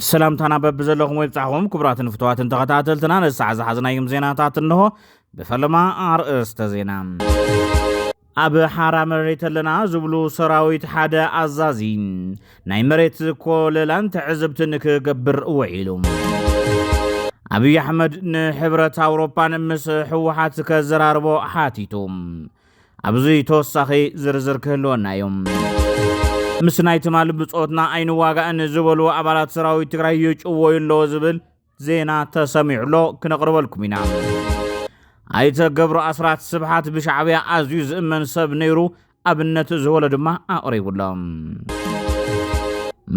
ሰላምታና በቢ ዘለኹም ወይ ብፃዕኹም ክቡራትን ፍትዋትን ተኸታተልትና ነሳዕ ዝሓዝናዮም ዜናታት እንሆ ብፈለማ ኣርእስተ ዜና ኣብ ሓራ መሬት ኣለና ዝብሉ ሰራዊት ሓደ ኣዛዚ ናይ መሬት ኮለላን ትዕዝብትን ክገብር ውዒሉ ኣብዪ ኣሕመድ ንሕብረት ኣውሮፓን ምስ ሕወሓት ከዘራርቦ ሓቲቱ ኣብዚ ተወሳኺ ዝርዝር ክህልወና እዩ። ምስ ናይ ትማሊ ብፆትና ኣይንዋጋእን ዝበሉ ኣባላት ሰራዊት ትግራይ ይጭወዩ ኣለዎ ዝብል ዜና ተሰሚዑ ኣሎ ክነቕርበልኩም ኢና። ኣይተ ገብሩ ኣስራት ስብሓት ብሻዕብያ ኣዝዩ ዝእመን ሰብ ነይሩ ኣብነት ዝበሎ ድማ ኣቕሪቡ ኣሎ።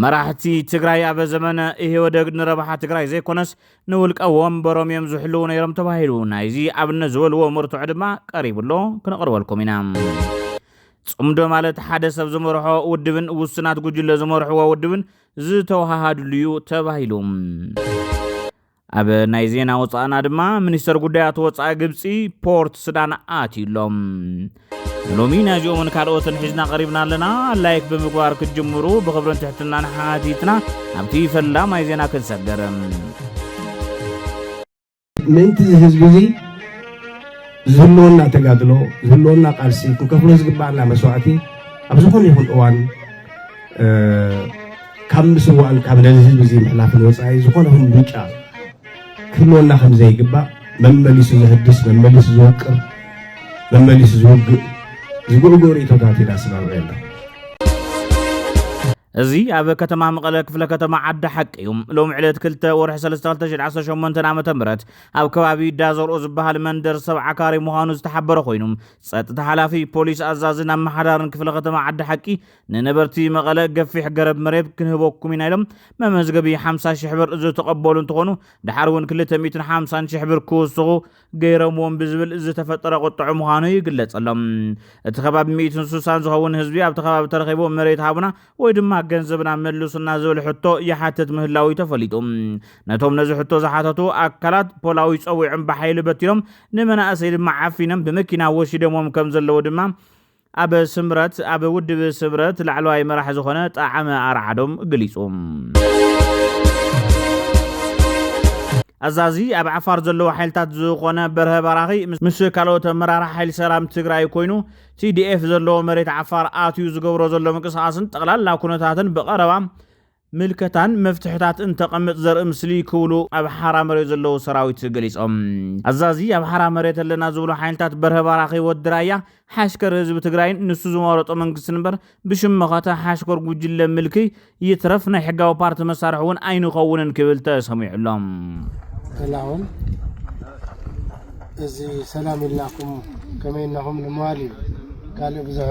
መራሕቲ ትግራይ ኣብ ዘመነ ኢህወደግ ንረብሓ ትግራይ ዘይኮነስ ንውልቀ ወንበሮም እዮም ዝሕልዉ ነይሮም ተባሂሉ ናይዚ ኣብነት ዝበልዎ መርትዖ ድማ ቀሪቡ ኣሎ ክነቕርበልኩም ኢና። ጽምዶ ማለት ሓደ ሰብ ዝመርሖ ውድብን ውስናት ጉጅለ ዝመርሕዎ ውድብን ዝተወሃሃድሉ እዩ ተባሂሉ ኣብ ናይ ዜና ወፃእና ድማ ሚኒስተር ጉዳያት ወፃኢ ግብፂ ፖርት ሱዳን ኣትዩ ኣሎ ንሎሚ ናይዚኦምን ካልኦትን ሒዝና ቀሪብና ኣለና ላይክ ብምግባር ክትጅምሩ ብኽብርን ትሕትናን ሓቲትና ናብቲ ፈላማይ ዜና ክንሰገርም ምእንቲ እዚ ህዝቢ እዚ ዝህልወና ተጋድሎ ዝህልወና ቃልሲ ክንከፍሎ ዝግባኣና መስዋእቲ ኣብ ዝኾነ ይኹን እዋን ካብ ምስዋእን ካብ ነዚ ህዝቢ እዚ ምሕላፍን ወፃኢ ዝኾነ ይኹን ምርጫ ክህልወና ከም ዘይግባእ መመሊሱ ዘህድስ መመሊሱ ዝወቅር መመሊሱ ዝውግእ ዝጉዕጉዕ ርእቶታት ኢና ስማምዑ ኣለኹ እዚ ኣብ ከተማ መቐለ ክፍለ ከተማ ዓዲ ሓቂ እዩ ሎሚ ዕለት 2 ወርሒ 32018 ዓ ም ኣብ ከባቢ ዳዘርኦ ዝበሃል መንደር ሰብ ዓካሪ ምዃኑ ዝተሓበረ ኮይኑ ፀጥታ ሓላፊ ፖሊስ ኣዛዝን ኣመሓዳርን ክፍለ ከተማ ዓዲ ሓቂ ንነበርቲ መቐለ ገፊሕ ገረብ መሬት ክንህበኩም ኢና ኢሎም መመዝገቢ 50 ሽሕ ብር ዝተቐበሉ እንትኾኑ ድሓር እውን 250 ሽሕ ብር ክውስኹ ገይረምዎም ብዝብል ዝተፈጠረ ቁጥዑ ምዃኑ ይግለጸሎም። እቲ ከባቢ ሚእትን ስሳን ዝኸውን ህዝቢ ኣብቲ ከባቢ ተረኺቡ መሬት ሃቡና ወይ ድማ ገንዘብና መልሱና ዝብል ሕቶ ይሓትት ምህላው እዩ ተፈሊጡ። ነቶም ነዚ ሕቶ ዝሓተቱ ኣካላት ፖላዊ ጸዊዖም ብሓይሊ በቲኖም ንመናእሰይ ድማ ዓፊኖም ብመኪና ወሲደምዎም ከም ዘለዉ ድማ ኣብ ስምረት ኣብ ውድብ ስምረት ላዕለዋይ መራሕ ዝኾነ ጣዓመ ኣርዓዶም ገሊጹ። ኣዛዚ ኣብ ዓፋር ዘለዉ ሓይልታት ዝኾነ በርሀ ባራኺ ምስ ካልኦት ኣመራርሓ ሓይሊ ሰላም ትግራይ ኮይኑ ቲዲኤፍ ዘለዎ መሬት ዓፋር ኣትዩ ዝገብሮ ዘሎ ምንቅስቓስን ጠቕላላ ኩነታትን ብቐረባ ምልከታን መፍትሕታት እንተቐምጥ ዘርኢ ምስሊ ክብሉ ኣብ ሓራ መሬት ዘለዉ ሰራዊት ገሊፆም። ኣዛዚ ኣብ ሓራ መሬት ኣለና ዝብሉ ሓይልታት በርሀ ባራኺ ወዲ ራያ ሓሽከር ህዝቢ ትግራይን ንሱ ዝመረፆ መንግስትን እምበር ብሽም መኸተ ሓሽከር ጉጅለ ምልክይ ይትረፍ ናይ ሕጋዊ ፓርቲ መሳርሒ እውን ኣይንኸውንን ክብል ተሰሚዑ ኣሎ። ተላኦም እዚ ሰላም ኢልናኩም ከመይ እናኹም ንምባል እዩ ካልእ ብዙሕ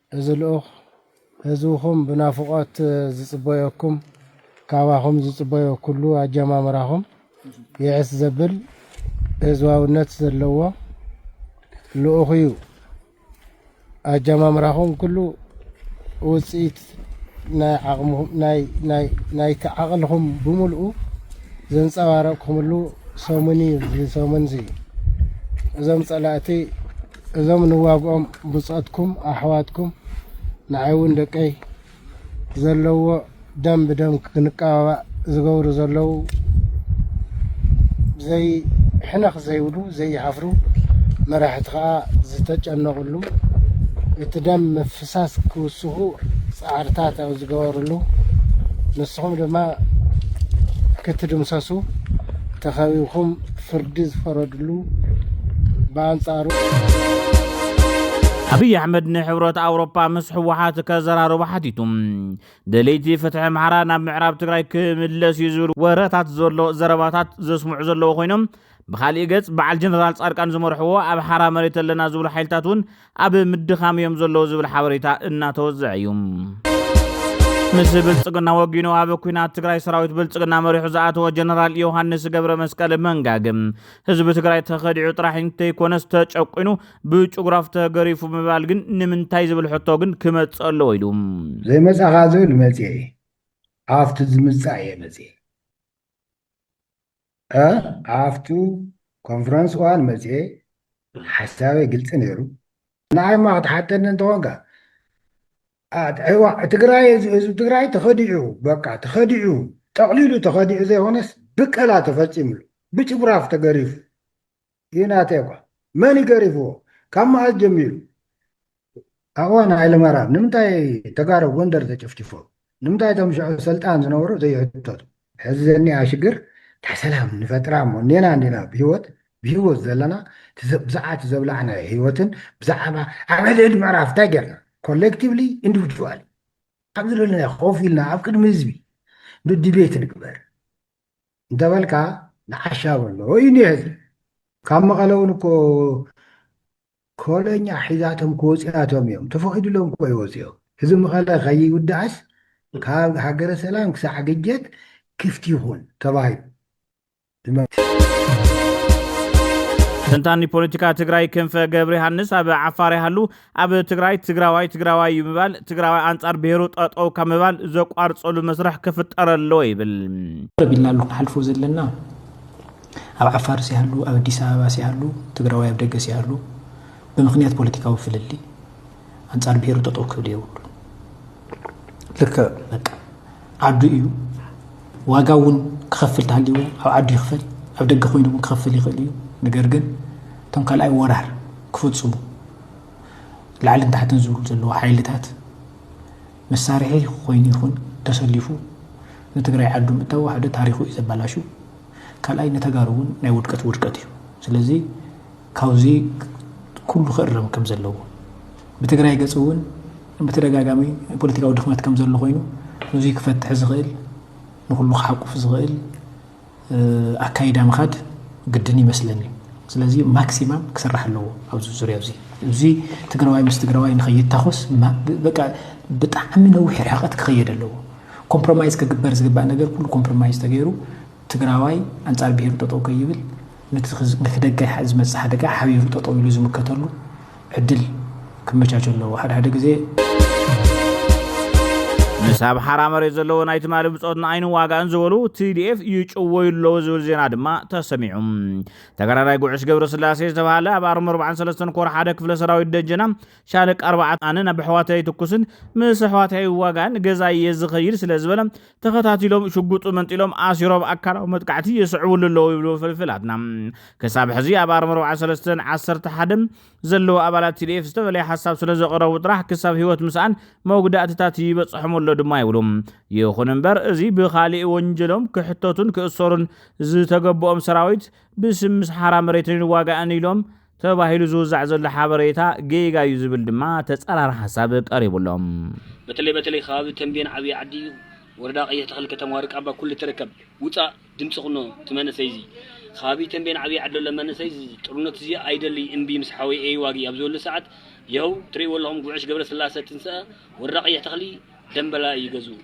እዚ ልኡኽ ህዝብኹም ብናፍቖት ዝጽበዮኩም ካባኹም ዝጽበዮ ኩሉ ኣጀማምራኹም ይዕስ ዘብል ህዝባውነት ዘለዎ ልኡኽ እዩ። ኣጀማምራኹም ኩሉ ውጽኢት ናይቲ ዓቕልኹም ብምልኡ ዘንጸባረቕኩምሉ ሰሙን እዩ እዚ ሰሙን እዚ እዞም ጸላእቲ እዞም ንዋግኦም ብጾትኩም ኣሕዋትኩም ንዓይ ውን ደቀይ ዘለዎ ደም ብደም ክንቀባባእ ዝገብሩ ዘለው ዘይ ሕነኽ ዘይብሉ ዘይሓፍሩ መራሕቲ ከዓ ዝተጨነቕሉ እቲ ደም ሃሳስ ክውስኹ ጻዕርታት ኣብ ዝገበርሉ፣ ንስኹም ድማ ክትድምሰሱ ተኸቢብኩም ፍርዲ ዝፈረድሉ ብኣንጻሩ፣ ኣብይ ኣሕመድ ንሕብረት ኣውሮፓ ምስ ህወሓት ከዘራርቡ ሓቲቱ ደለይቲ ፍትሒ ኣምሓራ ናብ ምዕራብ ትግራይ ክምለስ እዩ ዝብል ወረታት ዘሎ ዘረባታት ዘስምዑ ዘለዎ ኮይኖም ብካሊእ ገጽ በዓል ጀነራል ጻድቃን ዝመርሕዎ ኣብ ሓራ መሬት ኣለና ዝብሉ ሓይልታት እውን ኣብ ምድኻም እዮም ዘለዉ ዝብል ሓበሬታ እናተወዘዐ እዩ። ምስ ብልፅግና ወጊኑ ኣብ ኩናት ትግራይ ሰራዊት ብልፅግና መሪሑ ዝኣተወ ጀነራል ዮሃንስ ገብረ መስቀል መንጋግ ህዝቢ ትግራይ ተኸዲዑ ጥራሕ እንተይኮነስ ተጨቁኑ ብጭጉራፍ ተገሪፉ ምባል ግን ንምንታይ ዝብል ሕቶ ግን ክመፅእ ኣለዎ ኢሉ ዘይመፃኻ ዝብል መፅኤ ኣብቲ ዝምፃእ እየ መፅኤ ኣብቲ ኮንፈረንስ እዋን መፅየ ሓሳበይ ግልፂ ነይሩ ንዓይ እማ ክትሓተኒ እንተኾንካ ትግራይ ህዝቢ ትግራይ ተኸዲዑ በቃ ተኸዲዑ ጠቕሊሉ ተኸዲዑ ዘይኾነስ ብቀላ ተፈፂምሉ ብጭፍራፍ ተገሪፉ እዩ ናተይ እኳ መን እዩ ገሪፍዎ ካብ መዓዝ ጀሚሩ ኣዋን ሃይለማርያም ንምንታይ ተጋሩ ጎንደር ተጨፍጭፎ ንምንታይ እቶም ሽዑ ሰልጣን ዝነበሩ ዘይሕተቱ ሕዚ ዘኒኣ ሽግር እንታይ ሰላም ንፈጥራ እሞ ኔና እንዲና ብሂወት ብሂወት ዘለና ብዛዕባ ዘብላዕናዮ ሂወትን ብዛዕባ ኣብ ሕድሕድ ምዕራፍ እንታይ ጌርና ኮሌክቲቭሊ ኢንዲቪድዋል ኣብ ዝደለናዮ ኮፍ ኢልና ኣብ ቅድሚ ህዝቢ ዲቤት ንግበር እንተበልካ ንዓሻ በሎ እዩ እኒሀ እዚ ካብ መቐለ እውን እኮ ኮለኛ ሒዛቶም ክወፅኣቶም እዮም ተፈቒዱሎም እኮ ይወፅኦም እዚ መቐለ ከይውዳእስ ካብ ሃገረ ሰላም ክሳዕ ግጀት ክፍት ይኹን ተባሂሉ ተንታኒ ፖለቲካ ትግራይ ክንፈ ገብረዮሃንስ ኣብ ዓፋር ይሃሉ ኣብ ትግራይ ትግራዋይ ትግራዋይ እዩ ምባል ትግራዋይ ኣንጻር ብሔሩ ጠጠው ካብ ምባል ዘቋርጸሉ መስርሕ ክፍጠር ኣለዎ ይብል። ቅርብ ኢልና ኣሎ ክንሓልፎ ዘለና ኣብ ዓፋርስ ይሃሉ ኣብ ኣዲስ ኣበባስ ይሃሉ ትግራዋይ ኣብ ደገስ ይሃሉ ብምክንያት ፖለቲካዊ ፍልልይ ኣንጻር ብሔሩ ጠጠው ክብል የብሉ ልክዕ በቃ ዓዱ እዩ ዋጋ እውን ክኸፍል ተሃልዎ ኣብ ዓዱ ይኽፈል ኣብ ደገ ኮይኑ እውን ክኸፍል ይኽእል እዩ ነገር ግን እቶም ካልኣይ ወራር ክፍፅሙ ላዕልን ታሕትን ዝብሉ ዘለዎ ሓይልታት መሳርሒ ኮይኑ ይኹን ተሰሊፉ ንትግራይ ዓዱ ምእታው ሓደ ታሪኹ እዩ ዘበላሹ ካልኣይ ንተጋሩ እውን ናይ ውድቀት ውድቀት እዩ ስለዚ ካብዚ ኩሉ ክእረም ከም ዘለዎ ብትግራይ ገፅ እውን ብተደጋጋሚ ፖለቲካዊ ድኽመት ከም ዘሎ ኮይኑ ነዙይ ክፈትሕ ዝኽእል ንኩሉ ክሓቁፍ ዝኽእል ኣካይዳ ምኻድ ግድን ይመስለኒ እዩ ስለዚ ማክሲማም ክስራሕ ኣለዎ ኣብዚ ዙርያ እዚ እዚ ትግራዋይ ምስ ትግራዋይ ንኸይታኾስ በቃ ብጣዕሚ ነዊሕ ርሕቐት ክኸየድ ኣለዎ ኮምፕሮማይዝ ክግበር ዝግባእ ነገር ኩሉ ኮምፕሮማይዝ ተገይሩ ትግራዋይ ኣንጻር ብሄሩ ጠጠው ከይብል ነቲ ደጋ ዝመፅእ ሓደጋ ሓቢሩ ጠጠው ኢሉ ዝምከተሉ ዕድል ክመቻቾ ኣለዎ ሓደ ሓደ ግዜ። ምስ ኣብ ሓራ መሬት ዘለዎ ናይ ትማሊ ብጾትን ኣይንዋጋእን ዝበሉ ቲዲኤፍ ይጭወዩ ኣለዉ ዝብል ዜና ድማ ተሰሚዑ። ተጋዳላይ ጉዕሽ ገብረስላሴ ዝተባሃለ ኣብ ኣርሚ 43 ኮር ሓደ ክፍለ ሰራዊት ደጀና ሻለቃ ኣርባዕተ ኣነ ናብ ኣሕዋተይ ኣይትኩስን ምስ ኣሕዋተይ ኣይዋጋእን ገዛ እየ ዝኸይድ ስለ ዝበለ ተኸታቲሎም ሽጉጡ መንጢሎም ኣሲሮም ኣካላዊ መጥቃዕቲ የስዕብሉ ኣለዉ ይብሉ ፍልፍላትና። ክሳብ ሕዚ ኣብ ኣርሚ 43ን 11ን ዘለዉ ኣባላት ቲዲኤፍ ዝተፈለየ ሓሳብ ስለ ዘቐረቡ ጥራሕ ክሳብ ህይወት ምስኣን መጉዳእትታት ይበፅሖም ኣሎ ድማ ይብሉ። ይኹን እምበር እዚ ብኻሊእ ወንጀሎም ክሕተቱን ክእሰሩን ዝተገበኦም ሰራዊት ብስም ምስ ሓራ መሬትን ይዋጋእን ኢሎም ተባሂሉ ዝውዛዕ ዘሎ ሓበሬታ ጌጋ እዩ ዝብል ድማ ተፃራሪ ሓሳብ ቀሪቡ ኣሎ። በተለይ በተለይ ከባቢ ተምቤን ዓብይ ዓዲ ወረዳ ቀይሕ ተክሊ ከተማ ወርቃባ ኩሉ ትርከብ ውፃእ ድምፂ ኩኖ እቲ መንእሰይ እዙይ ከባቢ ተምቤን ዓብይ ዓዲ ዘሎ መንእሰይ እዙ ጥርኖት እዙይ ኣይደልይ እምቢ ምስ ሓወይ ኤይዋጊ ኣብ ዝበሉ ሰዓት ይሀው ትርእይዎ ኣለኹም ጉዕሽ ገብረስላሰ ትንሰኣ ወረዳ ቀይሕ ተክሊ ደምበላ እዩ ገዝኡ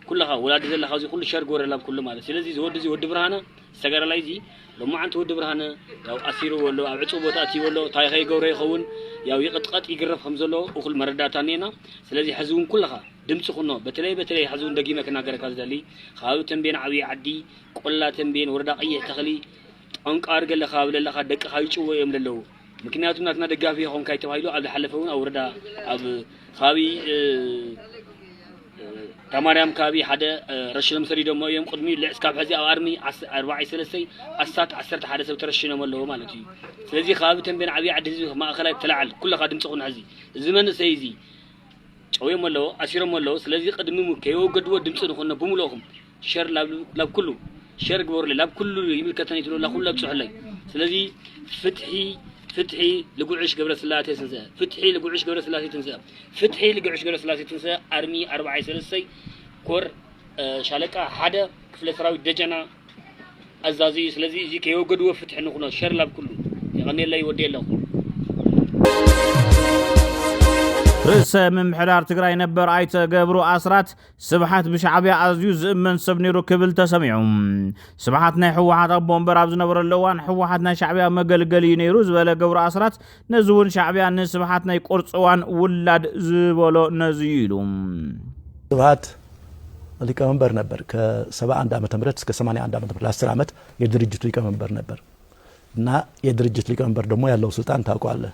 ኩለኻ ወላዲ ዘለኻ እዙይ ኩሉ ሸር ግበረላም ኩሉ ማለት ስለዚ እዚ ወዲ እዙይ ወዲ ብርሃነ ተጋዳላይ እዚ ሎማዓንቲ ወዲ ብርሃነ ያው ኣሲርዎ ኣሎ ኣብ ዕጹው ቦታ ኣእትይዎ ኣሎ ታይኸ ይገብሮ ይኸውን ያው ይቕጥቀጥ ይግረፍ ከም ዘሎ እኹል መረዳእታ እኒኤና ስለዚ ሕዚ እውን ኩልኻ ድምፂ ኩኖ በተለይ በተለይ ሕዚ እውን ደጊመ ክናገረካ ዝደሊ ከባቢ ተንቤን ዓብዪ ዓዲ ቆላ ተንቤን ወረዳ ቀይሕ ተኽሊ ጠንቃር ገለ ከባቢ ዘለኻ ደቅኻ ይጭወ እዮም ለለዉ ምክንያቱ ናትና ደጋፊ የኾንካይ ተባሂሉ ኣብ ዝሓለፈ እውን ኣብ ወረዳ ኣብ ከባቢ እታ ማርያም ካብይ ሓደ ረሽኖም ሰዲዶሞ እዮም ቅድሚ ልዕ እስካብ ሕዚ ኣብ ኣርሚ ኣርባዕይ ሰለስተይ ኣስታት ዓሰርተ ሓደ ሰብ ተረሽኖም ኣለዎ ማለት እዩ ስለዚ ከባቢ ተንቤን ዓብይ ዓዲ ህዝቢ ማእኸላይ ተላዓል ኩለኻ ድምፂ ኩን ሕዚ እዚ መንእሰይ እዚ ጨውዮም ኣለዎ ኣሲሮሞ ኣለዎ ስለዚ ቅድሚ ከየወገድዎ ድምፂ ንኹኖ ብምልእኹም ሸር ላብ ኩሉ ሸር ግበሩለይ ላብ ኩሉ ይምልከተኒ ትብሉ ኩሉ ኣብፅሑለይ ስለዚ ፍትሒ ፍትሒ ልጉዕሽ ገብረስላሴ ትንስእ ፍትሒ ልጉዕሽ ገብረስላሴ ትንስእ ፍትሒ ልጉዕሽ ገብረስላሴ ትንስእ ኣርሚ ኣርባዓይ ሰለስተይ ኮር ሻለቃ ሓደ ክፍለ ሰራዊት ደጀና ኣዛዚ እዩ ስለዚ እዚ ከይወገድዎ ፍትሒ ንኹኖ ሸር ላብ ኩሉ የቐኔለይ ወዲ ኣለኹ ርእሰ ምምሕዳር ትግራይ ነበር ኣይተ ገብሩ ኣስራት ስብሓት ብሻዕብያ ኣዝዩ ዝእመን ሰብ ነይሩ ክብል ተሰሚዑ። ስብሓት ናይ ህወሓት ኣቦ ወንበር ኣብ ዝነበረሉ እዋን ህወሓት ናይ ሻዕብያ መገልገሊ እዩ ነይሩ ዝበለ ገብሩ ኣስራት ነዚ እውን ሻዕብያ ንስብሓት ናይ ቁርፅዋን ውላድ ዝበሎ ነዚ እዩ ኢሉ። ስብሓት ሊቀመንበር ነበር ከ71 ዓመተ ምህረት እስከ 81 ዓመተ ምህረት ለ10 ዓመት የድርጅቱ ሊቀመንበር ነበር እና የድርጅት ሊቀመንበር ደግሞ ያለው ስልጣን ታውቀዋለህ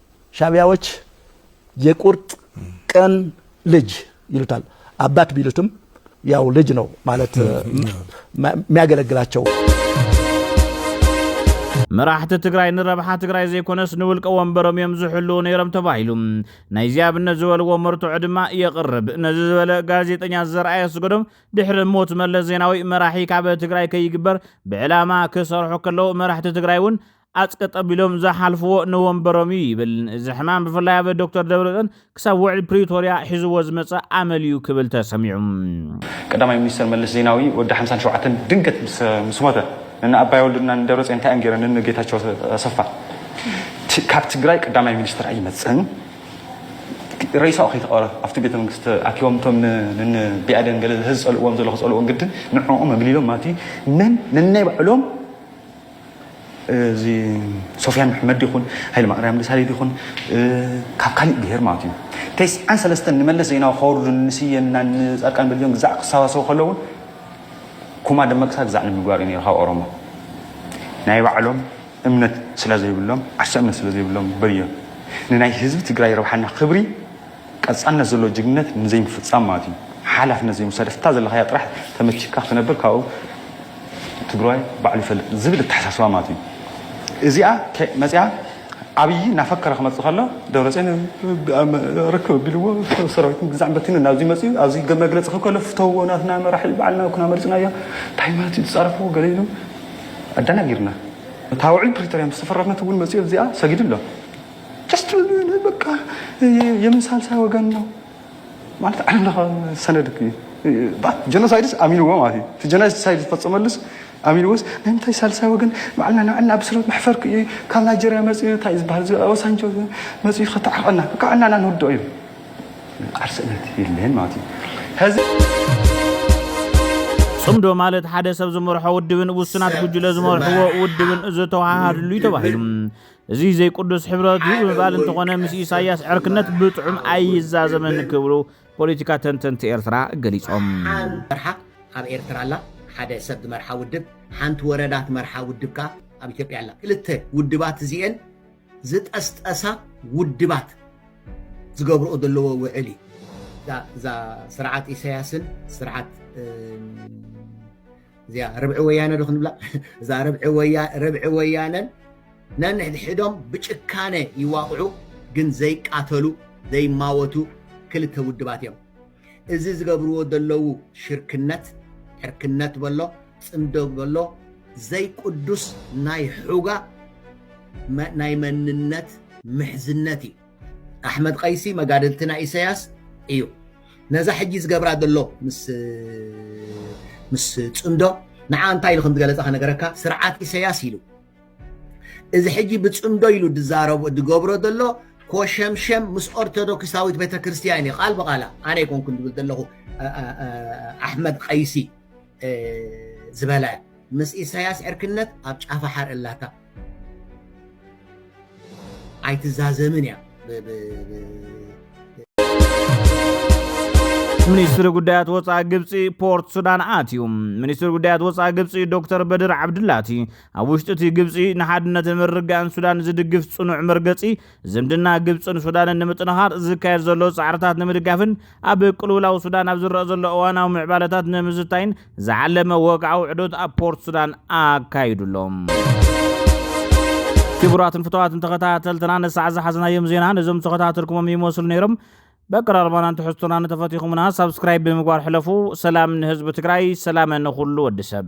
ሻቢያዎች የቁርጥ ቀን ልጅ ይሉታል። አባት ቢሉትም ያው ልጅ ነው ማለት የሚያገለግላቸው። መራሕቲ ትግራይ ንረብሓ ትግራይ ዘይኮነስ ንውልቀ ወንበሮም እዮም ዝሕልው ነይሮም ተባሂሉ ናይዚ ኣብነት ዝበልዎ መርትዖ ድማ የቕርብ ነዚ ዝበለ ጋዜጠኛ ዘርኣ የስገዶም ድሕሪ ሞት መለስ ዜናዊ መራሒ ካብ ትግራይ ከይግበር ብዕላማ ክሰርሑ ከለዉ መራሕቲ ትግራይ እውን ኣፅ ቀጠብ ኢሎም ዝሓልፍዎ ንወንበሮም እዩ ይብል። እዚ ሕማም ብፍላይ ኣብ ዶክተር ደብረፅዮን ክሳብ ውዕል ፕሪቶርያ ሒዝዎ ዝመፀ ኣመል እዩ ክብል ተሰሚዑ። ቀዳማይ ሚኒስተር መለስ ዜናዊ ወዲ ሓምሳን ሸውዓተን ድንገት ምስ ሞተ ንእነ ኣባይ ወልዱን እና ንደብረፅዮን እንታይ እዮም ገይሮም ንእነ ጌታቸው ኣሰፋ ካብ ትግራይ ቀዳማይ ሚኒስትር ኣይመፅእን ረይሳኡ ከይተቐረ ኣብቲ ቤተ መንግስቲ ኣኪቦም እቶም ንን ቢኣደን ገለ ዝፀልእዎም ዘሎ ክፀልእዎም ግድን ንዕኦም ኣግሊሎም ማለት እዩ መን ነናይ ባዕሎም እዚ ሶፍያን መሕመድ ይኹን ሃይለማርያም ደሳለይ ይኹን ካብ ካሊእ ብሄር ማለት እዩ ተስዓን ሰለስተን ንመለስ ዜናዊ ከወርዱን ንስየና ንፃድቃን በልጆን ግዛዕ ክሰባሰቡ ከለውን ኩማ ደመቅሳ ግዛዕ ንምግባር እዩ ነይሩ ካብ ኦሮሞ ናይ ባዕሎም እምነት ስለ ዘይብሎም ዓርሰ እምነት ስለ ዘይብሎም በልዮ ንናይ ህዝቢ ትግራይ ረብሓና ክብሪ ቀጻልነት ዘለዎ ጅግንነት ንዘይምፍጻም ማለት እዩ ሓላፍነት ዘይምውሳድ እፍታ ዘለኻያ ጥራሕ ተመቺካ ክትነብር ካብኡ ትግራዋይ ባዕሉ ይፈልጥ ዝብል እተሓሳስባ ማለት እዩ እዚኣ መጺኣ ኣብይ እናፈከረ ክመጽእ ከሎ ደብረጽዮን ርክብ ኣቢልዎ ሰራዊት ምግዛዕ በቲኑ ናብዚ መጽኡ ኣብዚ መግለጺ ክብ ከሎ ፍተውዎ ናትና መራሒ በዓልና ኩና መሪጽናዮ እንታይ ማለት እዩ ዝጻረፍዎ ገለ ኢሉ ኣደናጊርና እታ ውዕል ፕሪቶርያ ምስ ተፈረመት እውን መጽኡ እዚኣ ሰጊዱ ኣሎ በቃ የምን ሳልሳይ ወገን ነው ማለት ዓለም ለኸ ሰነድ ጀኖሳይድስ ኣሚንዎ ማለት እዩ እቲ ጀኖሳይድ ዝፈፀመሉስ ኣሚንዎስ ናይ ምንታይ ሳልሳይ ወገን ባዕልና ንዕና ብስረት መሕፈርክ እዩ ካብ ናይጀርያ መፅኡ እንታይ እዩ ዝበሃል ወሳንጆ መፅኡ ከተዓቀና ካብ ዕናና ንውድኦ እዩ ዓርስነት የለን ማለት እዩ ሕዚ ጽምዶ ማለት ሓደ ሰብ ዝመርሖ ውድብን ውሱናት ጉጅለ ዝመርሕዎ ውድብን ዝተዋሃሃድሉ እዩ ተባሂሉ እዙይ ዘይቅዱስ ሕብረት እዩ ብምባል እንተኾነ ምስ ኢሳያስ ዕርክነት ብጥዑም ኣይዛዘምን ክብሉ ፖለቲካ ተንተንቲ ኤርትራ ገሊጾም። ኣብ ኤርትራ ኣላ ሓደ ሰብ ዝመርሓ ውድብ ሓንቲ ወረዳ ትመርሓ ውድብ ከኣ ኣብ ኢትዮጵያ ኣላ ክልተ ውድባት እዚኤን ዝጠስጠሳ ውድባት ዝገብርኦ ዘለዎ ውዕል እዩ እዛ ስርዓት ኢሳያስን ስርዓት እዚኣ ርብዒ ወያነ ዶ ክንብላ እዛ ርብዒ ወያነን ነንሕድሕዶም ብጭካነ ይዋቕዑ ግን ዘይቃተሉ ዘይማወቱ ክልተ ውድባት እዮም እዚ ዝገብርዎ ዘለዉ ሽርክነት ዕርክነት በሎ ፅምዶ በሎ ዘይቅዱስ ናይ ሑጋ ናይ መንነት ምሕዝነት እዩ ኣሕመድ ቀይሲ መጋድልቲ ናይ ኢሰያስ እዩ ነዛ ሕጂ ዝገብራ ዘሎ ምስ ፅምዶ ንዓ እንታይ ኢሉ ከምዝገለፀ ከነገረካ ስርዓት ኢሰያስ ኢሉ እዚ ሕጂ ብፅምዶ ኢሉ ድዛረቦ ድገብሮ ዘሎ ኮሸምሸም ምስ ኦርቶዶክሳዊት ቤተክርስትያን እዩ ቃል ብቃላ ኣነ ይኮንኩ ድብል ዘለኹ ኣሕመድ ቀይሲ ዝበለ ምስ ኢሳያስ ዕርክነት ኣብ ጫፋ ሓር እላታ ኣይትዛዘምን እያ ሚኒስትሪ ጉዳያት ወፃኢ ግብፂ ፖርት ሱዳን ኣትዩ ሚኒስትሪ ጉዳያት ወፃኢ ግብፂ ዶክተር በድር ዓብድላቲ ኣብ ውሽጢ እቲ ግብፂ ንሓድነትን ምርጋእን ሱዳን ዝድግፍ ፅኑዕ መርገፂ ዝምድና ግብፅን ሱዳንን ንምጥንኻር ዝካየድ ዘሎ ፃዕርታት ንምድጋፍን ኣብ ቅልውላው ሱዳን ኣብ ዝረኣ ዘሎ እዋናዊ ምዕባለታት ንምዝታይን ዝዓለመ ወግዓዊ ዑደት ኣብ ፖርት ሱዳን ኣካይዱ ኣሎ። ክቡራትን ፍትዋትን ተኸታተልትና ንሳዕ ዝሓዝናዮም ዜና ነዞም ዝተኸታተልኩሞም ይመስሉ ነይሮም በቀራርባናን ትሕዝቶና ንተፈቲኹምና ሳብስክራይብ ብምግባር ሕለፉ ሰላም ንህዝቢ ትግራይ ሰላመ ንኹሉ ወዲ ሰብ